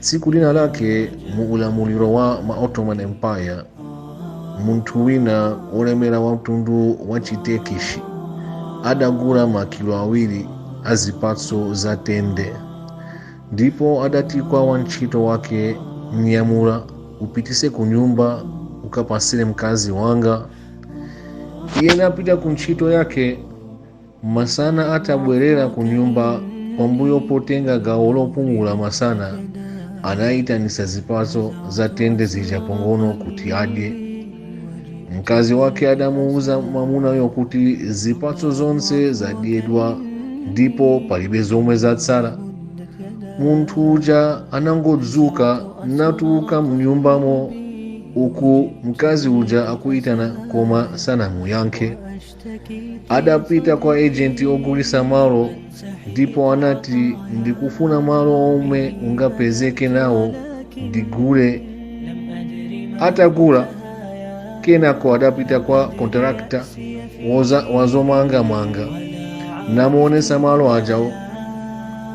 Tsiku lina lake mu ulamuliro wa ma Ottoman Empire, munthu wina wolemera wa mtundu wa Chitekishi adagula makilo awiri a zipatso za tende ndipo adati kwa wantchito wake, mnyamula upitise ku nyumba ukapasire mkazi wanga. Iye napita ku ntchito yake Masana atabwerera ku nyumba pambuyo potenga gawo lopumula masana, anayitanitsa zipatso za tende zija pang'ono kuti adye. Mkazi wake adamuwuza mwamunayo kuti zipatso zonse zadyedwa ndipo palibe zomwe zatsala. Munthu uja anangodzuka natuluka mnyumbamo uku mkazi uja akuyitana koma sanamuyankhe. adapita kwa ejenti ogulisa malo ndipo anati ndikufuna malo omwe ungapezeke nawo ndigule atagula kenako adapita kwa kontrakta wazomangamanga namuonesa malo ajawo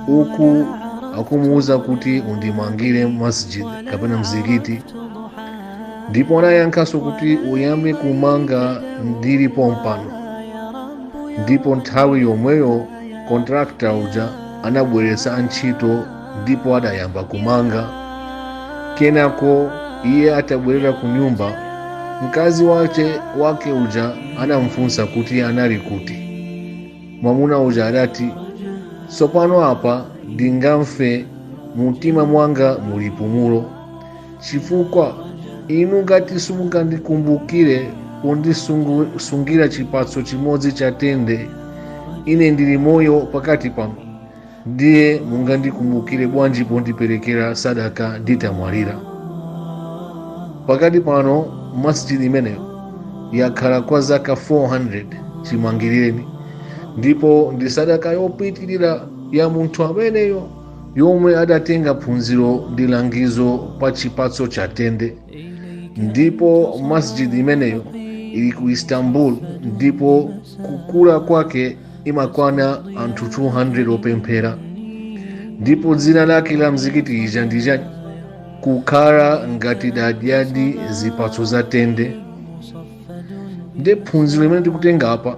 uku akumuuza kuti undimangire masjid kapena mzikiti ndipo anayankhanso kuti uyambe kumanga ndili pompano ndipo nthawi yomweyo kontrakta uja anabweretsa antchito ndipo adayamba kumanga kenako iye atabwerera ku nyumba mkazi wache wake uja anamfunsa kuti anali kuti mwamuna uja adati tsopano apa ndingamfe mumtima mwanga muli pumulo Chifukwa inu ngati simungandikumbukire pondisungira chipatso chimodzi cha tende, ine ndili moyo pakati panu, ndiye mungandikumbukire bwanji pondiperekera sadaka nditamwalira? Pakati pano masjid imeneyo yakhala kwa zaka 400 chimangireni, ndipo ndi sadaka yopitirira ya munthu ameneyo yomwe adatenga phunziro ndi langizo pa chipatso cha tende ndipo masjid imeneyo ili ku istanbul ndipo kukula kwake imakwana anthu 200 opemphera ndipo dzina lake la mzikiti ija ndija kukhala ngati ndadyadi zipatso za tende nde phunziro limene tikutenga apa